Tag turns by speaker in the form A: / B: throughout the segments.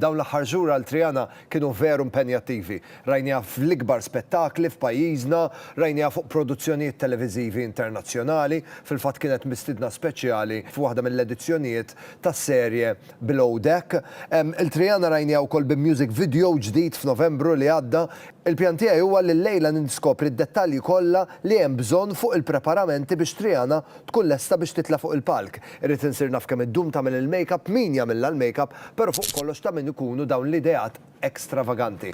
A: Dawn l-aħħar xhur għal Triana kienu veru mpenjattivi. Rajniha fl-ikbar spettakli f'pajjiżna, rajniha fuq produzzjonijiet televiżivi internazzjonali, fil-fatt kienet mistiedna speċjali f'waħda mill-edizzjonijiet tas-serje Below Deck. Lil Triana rajniha wkoll bi music video ġdid f'Novembru li għadda. Il-pjan tiegħi huwa li llejla ninskopri d-dettalji kollha li hemm bżonn fuq il-preparamenti biex Triana tkun lesta biex titla' fuq il-palk. Irrid insir naf kemm iddum tagħmel il-makeup, min jagħmilha l-makeup, però fuq kollox ta' min ikunu dawn l-ideat ekstravaganti.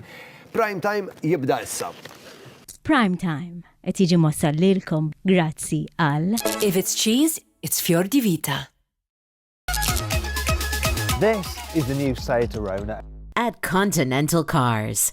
A: Prime Time jibda issa. Prime
B: Time qed jiġi mwassal lilkom grazzi għal. If it's cheese,
C: it's Fior di Vita.
D: This is the new Seat Arona. At Continental
C: Cars.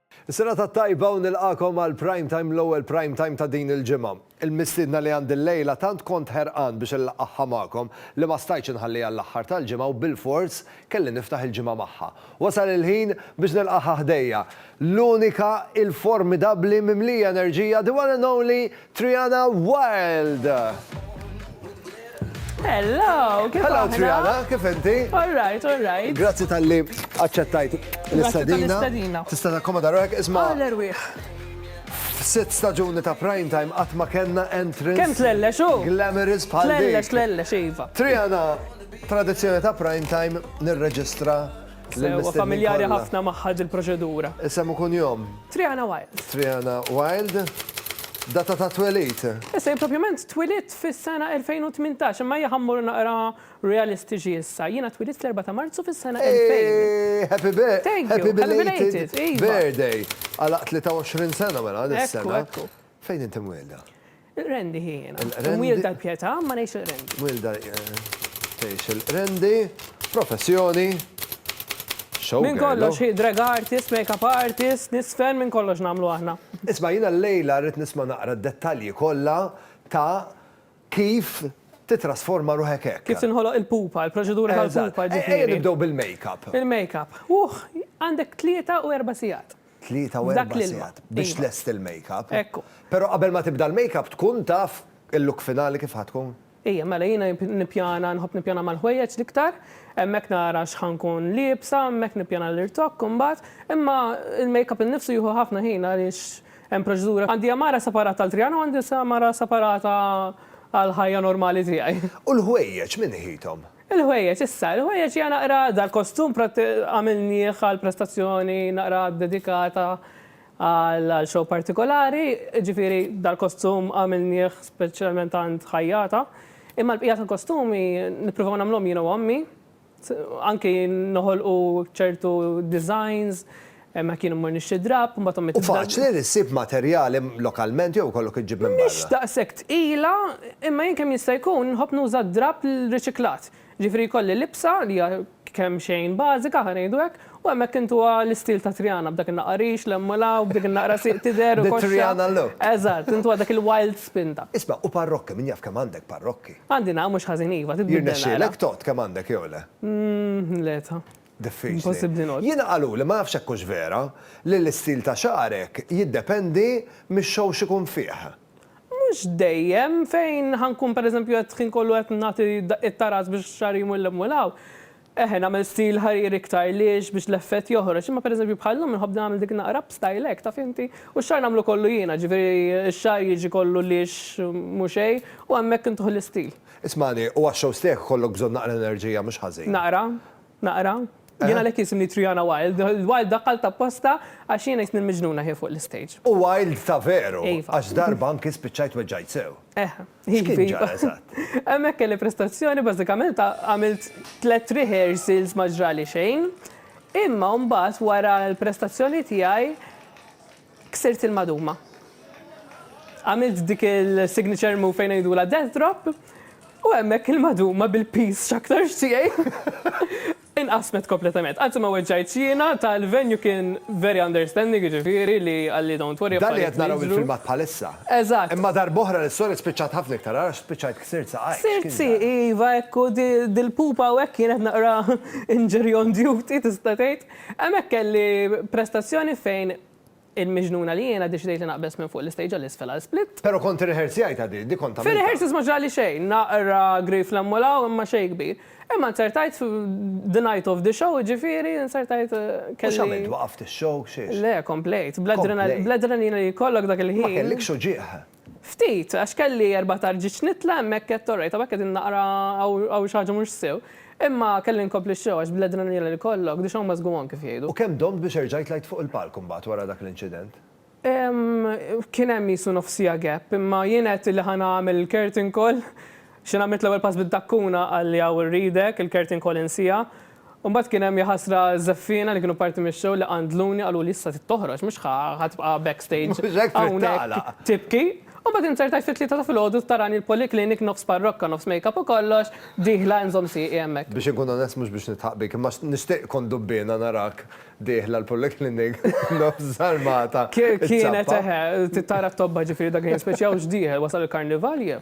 A: Is-serata t-tajba u nilqagħkom għal Prime Time l-ewwel Prime Time ta' din il-ġimgħa. Il-mistiedna li għandi llejla tant kont ħerqan biex inlaqqagħha magħkom li ma stajtx inħalliha għall-aħħar tal-ġimgħa u bilfors kelli niftaħ il-ġimgħa magħha. Wasal il-ħin biex nilqagħha ħdejja. L-unika, il-formidabbli, mimlija enerġija, the one and only, Triana Wild!
E: Hello, kif Hello aħna? Triana, kif
A: inti? All right, all right.
E: Grazzi tal-li
A: aċċettajt Grazzi l-istadina. tal-istadina. Tista' takkomoda ruħek, isma' Għal erwieħ. sitt staġuni ta' prime time qatt ma kellna entrance. Kemm tlellex hu?
E: Glamorous bħal dik. Tlellex,
A: tlellex, iva.
E: Triana,
A: tradizzjoni ta' prime time nirreġistra Sewwa
E: familjari ħafna magħha dil-proċedura. Isem u kunjom?
A: Triana Wild.
E: Triana Wild.
A: Data ta' twelid? Issa jien propjament
E: twilidt fis-sena 2018, imma ejja ħa mmorru naqra realistiċi issa. Jiena twilidt fl-4 ta' Marzu fis-sena 2000. Eeeh!
A: Happy bir-.
E: Thank
A: you.
E: Happy
A: belated birthday.
E: Għalaqt
A: 23 sena mela dis-sena. Ekku, ekku. Fejn inti
E: mwielda?
A: Il-Qrendi hi jiena.
E: Il-Qrendi. Imwielda tal-Pietà,
A: imma
E: ngħix il-Qrendi. Mwielda
A: tgħix il-Qrendi, professjoni,
E: show girl. Minn kollox hi drag artist, makeup artist, nisfen, minn kollox nagħmlu aħna. Isma' jiena llejla
A: rrid nisma' naqra d-dettalji kollha ta' kif titrasforma ruħek hekk. Kif tinħoloq il-pupa,
E: il-proċedura tal-pupa ġifieri. Eżatt. Ejja nibdew bil-makeup.
A: Il-makeup. Uħ,
E: għandek tlieta u erba' sigħat. Tlieta u erba'
A: sigħat biex tlesti il-makeup. Ekku. Però qabel
E: ma tibda
A: l-makeup tkun taf il-look finali kif ħa tkun? Ija, mela jiena
E: nippjana, nħobb nippjana mal-ħwejjeġ l-iktar, hemmhekk nara x'ħa nkun liebsa, hemmhekk nippjana l-irtokk imbagħad, imma l-makeup innifsu jieħu ħafna ħin għaliex hemm proċedura. Għandi għamara separata għal Triana u għandi għamara separata għall-ħajja normali tiegħi. U l-ħwejjeġ min iħithom?
A: Il-ħwejjeġ, issa,
E: il-ħwejjeġ hija naqra dal-kostum għamilnieh għal prestazzjoni naqra ddedikata għal show partikolari, jiġifieri dal-kostum għamilnieh speċjalment għand ħajjata. Imma l-bqija tal-kostumi nippruvaw nagħmluhom jien u ommi, anki noħolqu ċertu designs Hemmhekk jien immur nixtri drapp, mbagħad ommi tibda. Hu faċli li ssib
A: materjal lokalment jew ikollok iġġib minn barra? Mhix daqshekk tqila,
E: imma jien kemm jista' jkun nħobb nuża drapp riċiklat. Jiġifieri jkolli libsa li hija kemxejn bażika, ħa ngħidu hekk, u hemmhekk intuha l-istil ta' Triana b'dak in-naqra rix, l-hemm u l-hawn, b'dik in-naqra sieq tidher u koxxa. The Triana look. Eżatt,
A: intuha dak
E: il-wild spinta. Isma', u parrokki, min
A: jaf kemm għandek parrokki? Għandi, nagħam, mhux ħażin iva,
E: titbiddel naqra. Jirnexxielek tgħodd kemm
A: għandek jew le? Le, ta.
E: Diffiċli.
A: Jiena
E: qaluli, ma nafx hekk hux
A: vera, li l-istil ta' xagħrek jiddependi mix-show x'ikun fih. Mhux
E: dejjem, fejn ħa nkun pereżempju qed ħin kollu qed nagħti daqqiet ta' ras biex xagħri jmur 'l hemm u 'l hawn, eħe nagħmel stil ħarir iktar liex biex l-effett joħroġ, imma pereżempju bħal llum inħobb nagħmel dik naqra up style hekk, taf inti, u x-xagħar nagħmlu kollu jiena, ġifieri x-xagħar jiġi kollu liex mhu xejn u hemmhekk intuh l-istil. Ismagħni, u għax-shows
A: tiegħek ikollok bżonn naqra enerġija mhux ħażin. Naqra. Naqra?
E: Jien għalhekk jisimni Triana Wild. Wild daqqalt apposta għax jiena jisni l-miġnuna ħin fuq l-istage. U wild ta'
A: veru, għax darba anki spiċċajt weġġajt sew. Eh. X'kien ġara eżatt?
E: Hemmhekk kelli prestazzjoni bażikament għamilt tliet rehearsals ma ġrali xejn. Imma mbagħad wara l-prestazzjoni tiegħi, Ksirt il-maduma. Għamilt dik il-signature move fejn ngħidulha death drop u hemmhekk il-maduma bil-piż x'aktarx tiegħi inqasmet kompletament. Anzi ma weġġajtx jiena, ta' l-venue kien very understanding jiġifieri li qalli don't worry affarijiet jiġru. Dan li qed naraw il-filmat
A: bħalissa. Eżatt. Imma
E: darb'oħra l-istorja
A: spiċċat ħafna iktar agħar għax spiċċajt ksirt saqajk. Ksirt sieqi iva
E: hekk u dil-pupa hawnhekk kienet naqra injury on duty tista' tgħid. Hemmhekk kelli prestazzjoni fejn il-miġnuna li jiena ddeċidejt li naqbeż minn fuq l-istage għal isfel għal split. Però kont irrehearsjajtha
A: din, din kont għamiltha. Fir-rehearsals ma ġrali
E: xejn, naqra grif 'l hemm u 'l hawn imma xejn kbir. Imma nzertajt f' the night of the show, jiġifieri nzertajt kelli. U x'għamilt,
A: waqaft ix-show, x'għex? Le, komplejt. Komplejt.
E: Bl-adrenalina li jkollok dak il-ħin. Ma kellikx uġigħ?
A: Ftit, għax
E: kelli erba' tarġiġ nitla' hemmhekk għedt orajt, hawnhekk qegħdin naqra hawn xi ħaġa mhux sew. Imma kelli nkompli x-show għax bl-adrenalina li jkollok, the show must go on kif jgħidu. U kemm domt biex erġajt
A: tlajt fuq il-palk imbagħad wara dak l-inċident?
E: Kien hemm qisu nofs siegħa gap, imma jien għedt li ħa nagħmel il-curtain call. X'għamilt l-ewwel pass bid-dakkuna qalli hawn irridek, il-curtain call insiha. Imbagħad kien hemm jaħasra żeffiena li kienu parti mix-show li qandluni qaluli issa trid toħroġ mhux ħa ħa tibqa' back stage hawnhekk tibki. U mbagħad inzertajt fit-tlieta ta' filgħodu u tarani l-polyclinic nofs parrokka nofs makeup u kollox dieħla inżomm sieqi hemmhekk. Biex inkun onest mhux biex
A: nidħaq bik imma nixtieq kont dubbiena narak dieħla l-polyclinic nofs żarmata iċ-ċappa. Kienet eħe
E: titara t-tobba ġifieri dak li nispeċjaw x'dieħel wasal il-karnival jeh.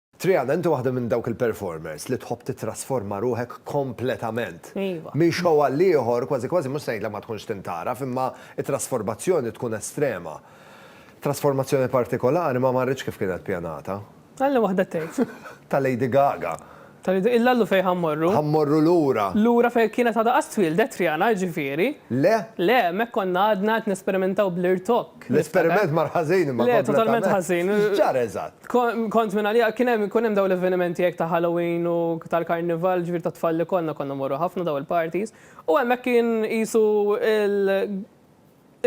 A: Triana, inti waħda minn dawk il-performers li tħobb tittrasforma ruħek kompletament. Iva. Minn show
E: għal ieħor,
A: kważi kważi mhux se ngħidlek ma tkunx tintgħaraf, imma t-trasformazzjoni tkun estrema. Trasformazzjoni partikolari ma marritx kif kienet pjanata. Alla waħda tgħid.
E: Ta' Lady Gaga.
A: Ta' Lady, illa llu
E: fejn ħa mmorru. Ħa mmorru lura.
A: Lura fejn kienet għadha
E: qas twieldet Triana, jiġifieri. Le. Le,
A: hemmhekk konna
E: għadna qed nesperimentaw bl-irtopp. L-esperiment mar
A: ħażin imma. Le, totalment ħażin.
E: X'ġara eżatt?
A: Kont minn għalija,
E: kien hemm ikun hemm dawn l-avvenimenti hekk ta' Halloween u tal-Karnival, ġifieri tat-tfal li konna, konna mmorru ħafna dawn il-parties, u hemmhekk kien qisu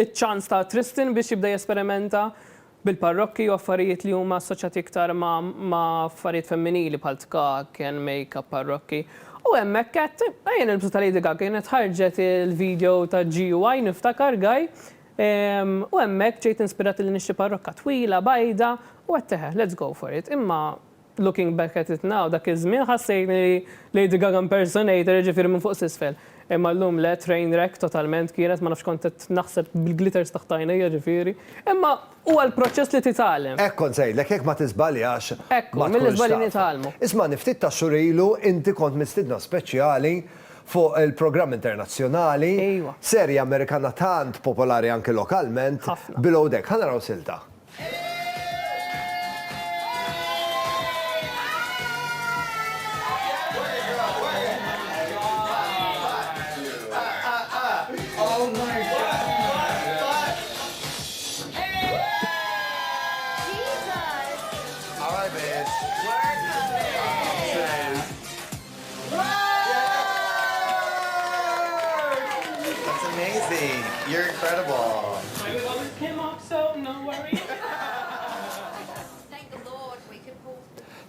E: iċ-ċans ta' Tristan biex jibda jesperimenta bil-parrokki u affarijiet li huma assoċjati iktar ma' affarijiet femminili bħal tkakken, makeup, parrokki. U hemmhekk għedt, ejja nilbsu ta' Lady Gaga, kienet ħarġet il-video ta' GUI niftakar, Guy, U hemmhekk ġejt inspirat li nixtri parrokka twila, bajda, u għedt eħe, let's go for it. Imma looking back at it now, dak iż-żmien ħassejtni Lady Gaga impersonator, jiġifieri minn fuq s'isfel. Imma llum le, train wreck totalment kienet, ma nafx kont qed naħseb bil-glitters taħt għajnejja ġifieri. Imma huwa l-proċess li titgħallem. Hekk kont se ngħidlek, jekk ma
A: tiżbaljax ma tkunx taf. Ekku, mill-iżbalji
E: nitgħallmu. Ismagħni, ftit tax-xhur
A: ilu inti kont mistiedna speċjali, fuq il-programm internazzjonali, serje Amerikana tant popolari anki lokalment, Below Deck. Ħa naraw silta.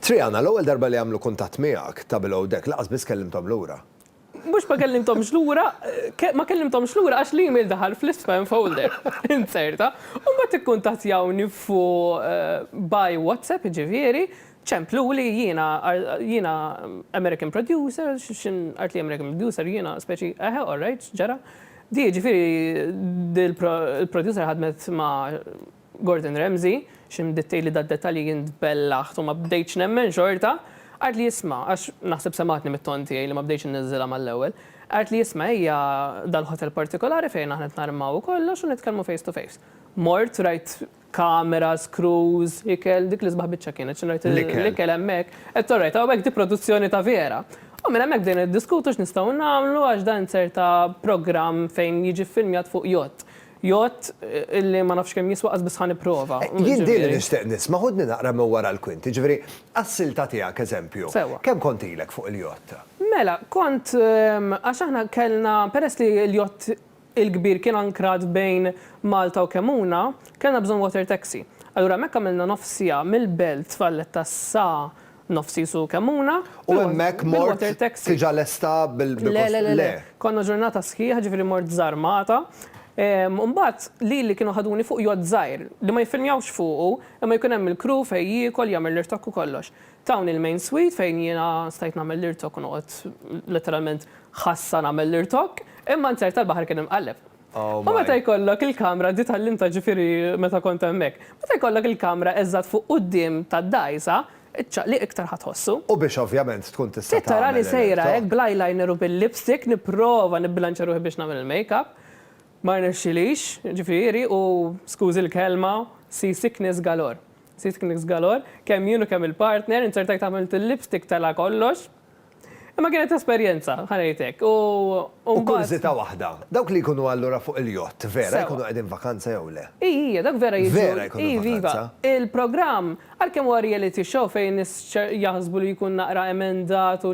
A: Triana, l-ewwel darba li għamlu kuntatt miegħek ta' Below Deck, lanqas biss kellimthom lura. Mhux ma
E: kellimthomx lura, ma kellimthomx lura għax l-email daħal fl-ispam folder, inzerta. U mbagħad ikkuntattjawni fuq by WhatsApp, jiġifieri, Ċempluli, jiena, jiena American producer, x'in art li American producer, jiena speċi, eħe, all right, x'ġara. Di, ġifieri, di l-producer ħadmet ma' Gordon Ramsay, x'in bdiet tgħidli dad-dettalji jien tbellaħt u ma bdejtx nemmen xorta. Qalt li isma', għax naħseb semgħatni mit-ton tiegħi li ma bdejtx inniżżilha mal-ewwel, qalt li isma' ejja dal-ħotel partikolari fejn aħna qed narmaw u kollox u nitkellmu face to face. Mort, rajt kamera, screws, ikel, dik l-isbaħ biċċa kienet xi ngħid l-ikel hemmhekk. Qed orajt hawnhekk di produzzjoni ta' vera. U minn hemmhekk bdejna niddiskutu x'nistgħu nagħmlu għax dan ċerta programm fejn jiġi ffilmjat fuq jott. Jott li ma nafx kemm jiswa qas biss ħa nipprova. Jien din li nixtieq
A: nisma' ħudni naqra minn wara l-kwinti, jiġifieri għas-silta tiegħek eżempju, kemm kont ilek
E: fuq
A: il-jott? Mela, kont
E: għax aħna kellna peress li l-jott il-kbir kien ankrat bejn Malta u Kemmuna, kellna bżonn water taxi. Allura hemmhekk għamilna nofs siegħa mill-Belt Valletta sa nofs qisu Kemmuna bil-water taxi. U hemmhekk
A: mort diġà lesta bil-kors? Le, le, le, le.
E: Konna ġurnata sħiħa, ġifieri mort Żarmata. U mbagħad lili kienu ħaduni fuq yacht żgħir, li ma jiffilmjawx fuqu, imma jkun hemm il-crew fejn jiekol, jagħmel l-irtokk u kollox. Tawni l-main suite fejn jiena stajt nagħmel l-irtok u noqgħod letteralment ħassa nagħmel l-irtok, imma n-zer tal-baħar kien imqalleb. U meta jkollok il-kamra, di tgħallimtha ġifieri meta kont hemmhekk, meta jkollok il-kamra eżatt fuq quddiem tad-dgħajsa, iċ-ċaqliq iktar ħa tħossu. U biex ovvjament
A: tkun tista' tagħmel l-irtok. Trid tarani sejra hekk
E: bl-eyeliner u bil-lipstick nipprova nibbilanċja ruħi biex nagħmel il-makeup, ma rnexxilix, ġifieri, u skużi l-kelma, sea sickness galore. Sirt kniks galor, kemm jien u kemm il-partner, inzertajt għamilt il-lipstick tela' kollox. Imma kienet esperjenza, ħa ngħid hekk, u mbagħad. U
A: kurżità waħda, dawk li jkunu allura fuq il-jott, vera jkunu qegħdin vakanza jew le? Ii, ii, dawk vera jiġu.
E: Vera jkunu vakanza? Iv, iva.
A: Il-programm,
E: għalkemm huwa reality show fejn nies jaħsbu li jkun naqra emendat u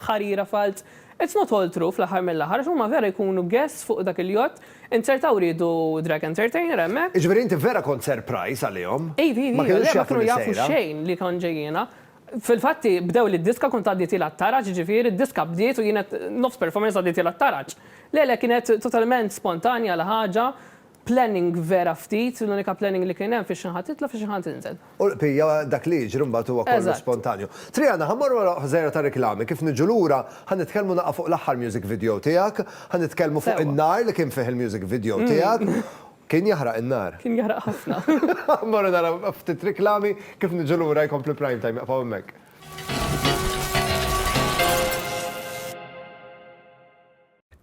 E: ħarira falz, it's not all true fl-aħħar mill-aħħar għax huma vera jkunu guests fuq dak il-yacht, inzertaw riedu drag entertainer hemmhekk. Jiġifieri inti vera kont
A: surprise għalihom? Iva, iva, iva, le ma kienu
E: jafu xejn li kont ġejjiena. Fil-fatt bdew li d-diska kont għaddi tiela' t-taraġ, jiġifieri d-diska bdiet u jien qed nofs performance għaddi tiela' t-taraġ. Le, le kienet totalment spontanja l-ħaġa, Planning vera ftit, l-unika planning li kien hemm fiex ħa titla' fiex ħa tinżel. U l-bqija dak li jiġri
A: mbagħad huwa kollu spontanju. Triana, ħa mmorru għal ħżejra ta' riklami, kif niġu lura ħa nitkellmu naqgħa fuq l-aħħar music video tiegħek, ħa nitkellmu fuq in-nar li kien fih il-music video tiegħek. Kien jaħraq in-nar. Kien jaħraq ħafna.
E: Ħa mmorru naraw
A: ftit riklami, kif niġu lura jkompli Prime Time, iqfgħu hemmhekk.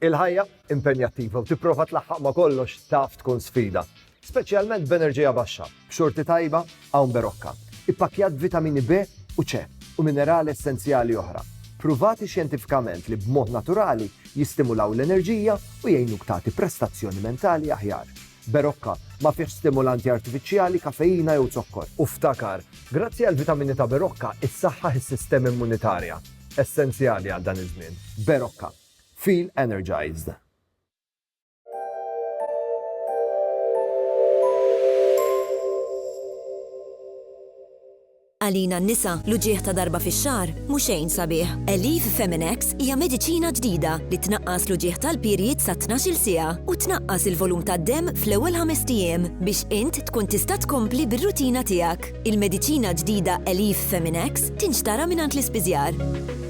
A: Il-ħajja impenjattiva u tipprova tlaħħaq ma' kollox taf tkun sfida, speċjalment b'enerġija baxxa, b'xorti tajba hawn berokka, ippakkjat b'vitamini B u C u minerali essenzjali oħra, pruvati xjentifikament li b'mod naturali jistimulaw l-enerġija u jgħinuk tagħti prestazzjoni mentali aħjar. Berokka ma fihx stimulanti artifiċjali, kafeina jew zokkor. U ftakar, grazzi għall-vitamini ta' Berokka, issaħħaħ is-sistema immunitarja, essenzjali għal dan iż-żmien. Berokka. Feel Energized!
F: Għalina n-nisa, l-uġigħ ta' darba fix-xahar mhu xejn sabiħ. Elif Feminex hija mediċina ġdida li tnaqqas l-uġigħ tal-period sa 12-il siegħa u tnaqqas il-volum tad-demm fl-ewwel ħames ijiem biex int tkun tista' tkompli bir-rutina tiegħek. Il-mediċina ġdida Elif Feminex tinxtara mingħand l-ispiżjar.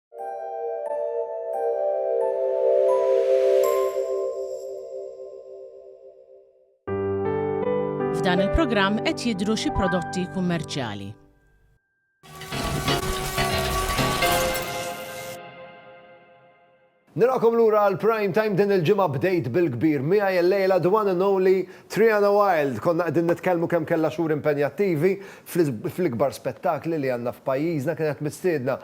G: F'dan il-programm qed jidhru xi prodotti kummerċjali.
A: Nilqakom lura għal prime time din il-ġimgħa bdejt bil-kbir miegħi l-lejla the one and only Triana Wild. Konna qegħdin nitkellmu kemm kellha xhur impenjattivi fl-ikbar spettakli li għandna f'pajjiżna kienet mistiedna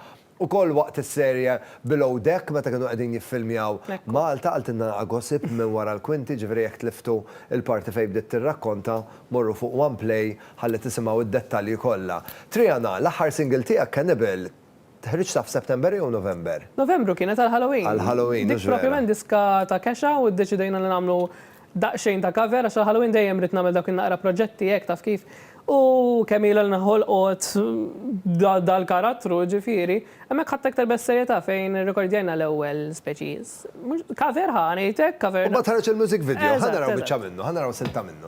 A: Ukoll waqt is-serje Below Deck meta kienu qegħdin jiffilmjaw Malta qaltilna a gossip minn wara l-kwinti, ġifieri jekk tliftu l-parti fejn bdiet tirrakkonta, morru fuq one play ħalli tisimgħu d-dettalji kollha. Triana, l-aħħar single tiegħek Cannibal ħriġtha f'September jew November? Novembru kienet għall-Halloween.
E: Għall-Halloween, mhux vera. Dik propjament
A: diska
E: ta' kexa u ddeċidejna li nagħmlu Daqsxejn ta' cover għax għall-Halloween dejjem ridt nagħmel dawk in-naqra proġetti hekk taf kif. U kemm ilha li nħolqot dal-karattru, jiġifieri, hemmhekk ħadt aktar bis-serjetà fejn irrekordjajna l-ewwel speċiż. Mhux, cover ħa ngħid hekk, cover. U mbagħad ħareġ il-music video,
A: ħa naraw biċċa minnu, ħa naraw silta minnu.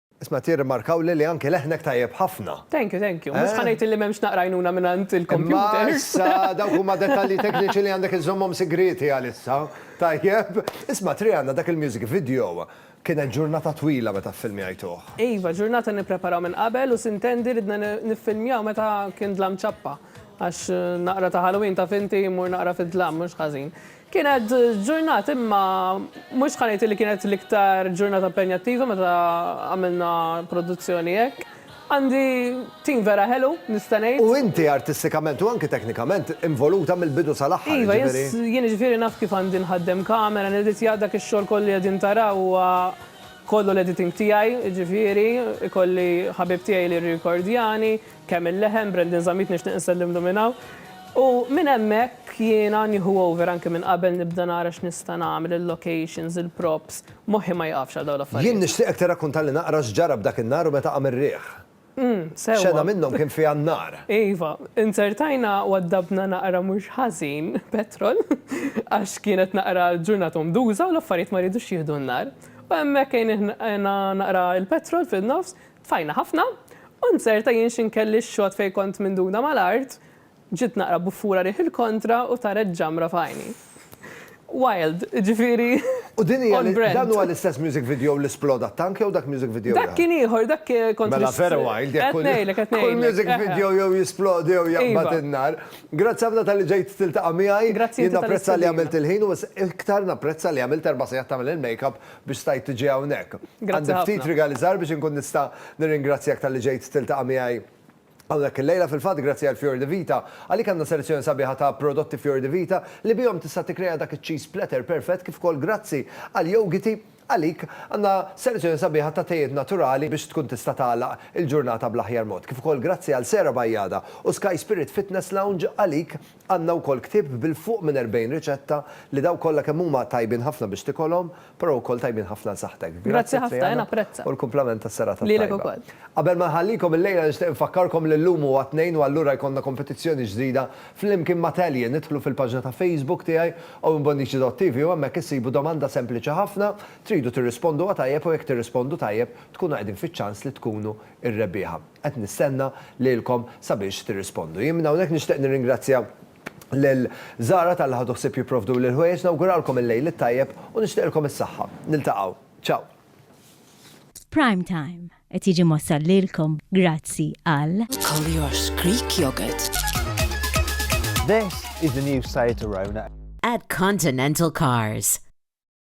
H: Isma'
A: tirrimarkawli li anke leħnek tajjeb ħafna. Thank you, thank you. Mhux ħa
E: ngħid illi m'hemmx naqra għajnuna mingħand il-kompjuter. Imma issa dawk huma
A: dettalji tekniċi li għandek iżżommhom sigrieti għalissa. Tajjeb. Isma' Triana, dak il-music video, kienet ġurnata twila meta ffilmjajtuh. Iva, ġurnata
E: nippreparaw minn qabel u sintendi ridna niffilmjaw meta kien dlam ċappa. Għax naqra ta' Halloween taf inti, mmur naqra fid-dlam, mhux ħażin. Kienet ġurnat imma mhux ħa ngħid li kienet l-iktar ġurnata impenjattiva meta għamilna produzzjoni hekk. Għandi tim vera ħelu, nista' ngħid. U inti artistikament
A: u anki teknikament involuta mill-bidu sal-aħħar, jiġifieri. Iva, jien
E: jiġifieri naf kif għandi nħaddem kamera, niditja, dak ix-xogħol kollu li qegħdin taraw huwa kollu l-editing tiegħi, jiġifieri, ikolli ħabib tiegħi li jirrikordjani, Kemm il-leħen, Brandon Zammit nixtieq insellimlu minn hawn. U minn hemmhekk jiena nieħu over anke minn qabel nibda nara x'nista' nagħmel, il-locations, il-props, moħħi ma jieqafx għal dawn l-affarijiet. Jien nixtieqek tirrakkuntalli naqra
A: x'ġara b'dak in-nhar u meta qam ir-riħ. Umm, sewwa. Xena minnhom kien fiha n-nar. Iva.
E: Inzertajna u għaddabna naqra mhux ħażin petrol għax kienet naqra ġurnata ummduża u l-affarijiet ma riedux jieħdu n-nar. U hemmhekk għejnieh naqra l-petrol fin-nofs, Tfajna ħafna, u nzerta jien xi nkelli x-xogħod fejn kont minduna mal-art, ġiet naqra buffura riħ il-kontra u taret ġamra f'għajni. Wild, jiġifieri U din hija
A: li, dan huwa l-istess music video li sploda t-tank jew dak music video ieħor? Dak kien ieħor, dak kien
E: kont Mela vera wild jekk
A: kull, kull music video jew jisplodi jew jaqbad in-nar. Grazzi ħafna talli ġejt tiltaqa' miegħi. Grazzi inti tal-istedina. Jien napprezza li għamilt il-ħin u iktar napprezza li għamilt erba' sigħat tagħmel il-makeup biex stajt tiġi hawnhekk. Għandi ftit rigali żgħar biex inkun nista' nirringrazzjak talli ġejt tiltaqa' miegħi hawnhekk illejla. Fil-fatt, grazzi għal Fior di Vita, għalik għandna selezzjoni sabiħa ta' prodotti Fior di Vita li bihom tista' tikkrea dak iċ-cheese platter perfett kif ukoll grazzi għal Yougiti, għalik għandna selezzjoni sabiħa ta' tejiet naturali biex tkun tista' tagħlaq il-ġurnata bl-aħjar mod. Kif ukoll grazzi għal Sera Bajada u Sky Spirit Fitness Lounge, għalik Għandna wkoll ktieb bil fuq minn erbgħin riċetta li dawk kollha kemm huma tajbin ħafna biex tikolhom, però wkoll tajbin ħafna għal saħħtek. Grazzi Triana
E: u l-kumplament tas-serata
A: t-tajba. Qabel
E: ma nħallikom
A: illejla nixtieq infakkarkom li llum huwa Tnejn u allura jkollna kompetizzjoni ġdida flimkien ma' Tallien. Idħlu fil-paġna ta' Facebook tiegħi owenbonnici.tv u hemmhekk issibu domanda sempliċi ħafna, tridu tirrisponduha tajjeb u jekk tirrispondu tajjeb tkunu qegħdin fiċ-ċans li tkunu r-rebbieħa. Qed nistenna lilkom sabiex tirrispondu. Jien minn hawnhekk nixtieq nirringrazzja lil Zara talli ħadu ħsieb jipprovduli l-ħwejjeġ, nawguralkom il-Lejl it-Tajjeb u nixtieqilkom is-saħħa. Niltaqgħu. Ciao!
B: Prime Time qed jiġi mwassal lilkom grazzi għal. Collier's Greek
I: Yogurt.
D: This is the new Seat Arona. At Continental
C: Cars.